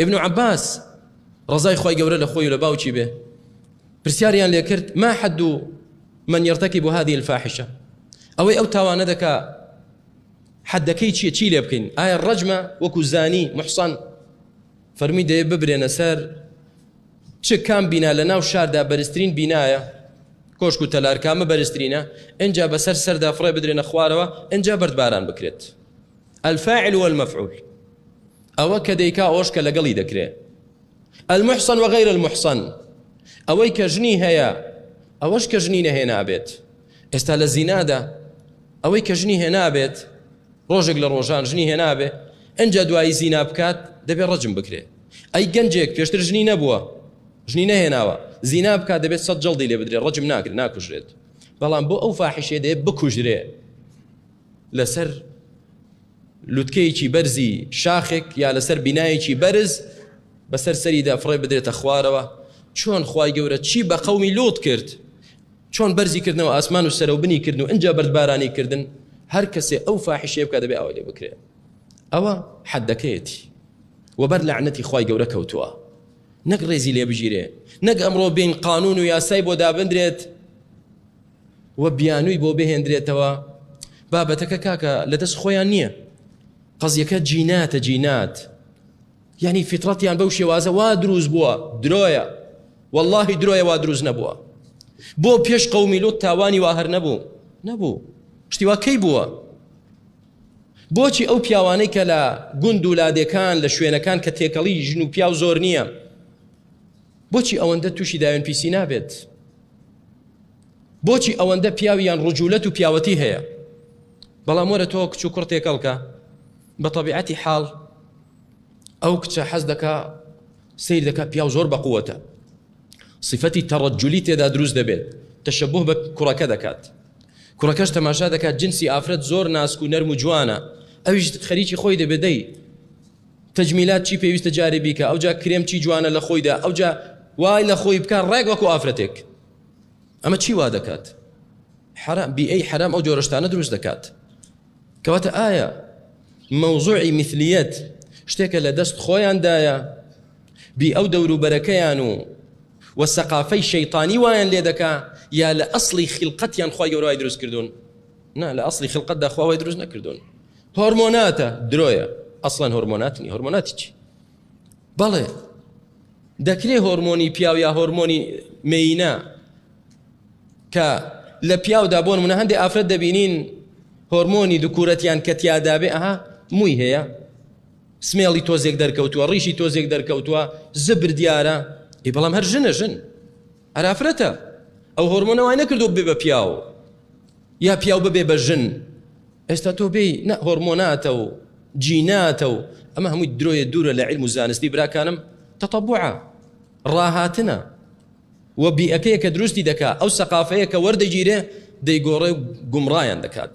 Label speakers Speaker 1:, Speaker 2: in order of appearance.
Speaker 1: ابن عباس ڕزای خوای گەورە لە خۆی و لە باوکی بێ پرسیاریان لێ کرد ما حد من يرتكب هذه الفاحشة ئەوەی ئەو تاوانە دەکا حدەکەی چیە چی لێ بکەین ئایا ڕەجمە وەکو زانی محسان فەرمی دەیە ببرێنە سەر چ کام بینا لە ناو شاردا بەرزترین بینایە کۆشک و تەلارکامە بەرزترینە ئەجا بەسەر سەردا فڕێ بدرێنە خوارەوە ئەجا بەردباران بکرێت الفاعل والمفعول ئەوە کە دەیکا ئەوەش کە لەگەڵی دەکرێ المحسن وغير المحسن ئەوەی کە ژنی هەیە ئەوەش کە ژنی نەهێنابێت ئێستا لە زینادا ئەوەی کە ژنی هێنابێت ڕۆژێک لە ڕۆژان ژنی هێنابێ ئەجا دوایی زینا بکات دەبێت ڕەجم بکرێ ئەی گەنجێک پێشتر ژنی نەبووە ژنی نەهێناوە زینا بکات دەبێت سەد جڵدی لێ بدرێت ڕەجم ناکرێت ناکوژرێت بەڵام بۆ ئەو فاحشێ دێ بکوژرێ لەسەر لوتکەیەکی بەرزی شاخێک یا لەسەر بینایەکی بەرز بەسەر سەریدا فڕێ بدرێتە خوارەوە چۆن خوای گەورە چی بە قەومی لوت کرد چۆن بەرزی کردنەوە ئاسمان و سەرەوبنی کردن و ئەجا بەردبارانی کردن هەر کەسێ ئەو فاحشێ بکە دەبێ ئەوە لێ بکرێت ئەوە حەدەکەیەتی وەبەر لەعنەتی خوای گەورە کەوتووە نەک ڕێزی لێ بگیرێ نەک ئەمڕۆ بین قانون و یاسای بۆ دابدرێت و بیانوی بۆ بهێندرێتەوە بابەتەکە کاکە لە دەست خۆیان نییە قەزیەکە جیناتە جینات یعنی فیتڕەتیان بەو شێوازە وا دروست بووە درۆیە واللهی درۆیە وا دروست نەبووە بۆ پێش قومی لوت تاوانی وا هەر نەبوو نەبوو شتیوا کەی بووە بۆچی ئەو پیاوانەی کە لە گوند و لادێکان لە شوێنەکان کە تێکەڵی ژن و پیاو زۆر نییە بۆچی ئەوەندە تووشی داوێن پیسی نابێت بۆچی ئەوەندە پیاوی یان ڕجولەت و پیاوەتی هەیە بەڵام وەرە تۆ کچ و کوڕ تێکەڵکە بە طبیعەتی حاڵ ئەو کچە حەز دەکا سیر دەکا پیاو زۆر بەقووەتە صفەتی تەڕەجولی تێدا دروست دەبێت تەشەبوه بە کوڕەکە دەکات کوڕەکەش تەماشا دەکات جنسی ئافرەت زۆر ناسک و نەرم و جوانە ئەویش خەریکی خۆی دەبێدەی تەجمیلات چی پێویستە جارێ بیکە ئەوجا کرێم چی جوانە لە خۆیدا ئەوجا وای لە خۆی بکە ڕێک وەکو ئافرەتێک ئەمە چی وا دەکات حرام بی ئەی حرام ئەو جۆرەشتانە دروست دەکات کەواتە ئایا مەوزوعی مثلیت شتێکە لە دەست خۆیاندایە بی ئەو دەوروبەرەکەیان و و سەقافەی شەیطانی وایان لێ دەکا یا لە ئەسڵی خیلقەتیان خی گەورای دروست کردوون نا لە ئەسڵی خلقەتدا خوا وای دروست نەکردوون هۆرمۆناتە درۆیە ئەسڵەن هۆرمۆنات نی هۆرمۆناتی چی بەڵێ دەکرێ هۆرمۆنی پیاو یا هۆرمۆنی مینە کە لە پیاودا بۆن منە هەندێک ئافرەت دەبینین هۆرمۆنی دوکورەتیان کە تیادابێ ئەها مووی هەیە سمێڵی تۆزێک دەرکەوتووە ڕیشی تۆزێک دەرکەوتووە زبر دیارە ئی بەڵام هەر ژنە ژن ئەرا فرەتە ئەو هۆرمۆنە وای نەکردوە ببێ بە پیاو یا پیاو ببێ بە ژن ئێستا تۆ بێی نە هۆرمۆناتە و جیناتە و ئەمە هەمووی درۆیە دوورە لە علم و زانستی براکانم تەتەبوعە ڕاهاتنە و بیئەکەیە کە دروستی دەکا ئەو سەقافەیە کە وەردەگیرێ دەیگۆڕێ و گومڕایان دەکات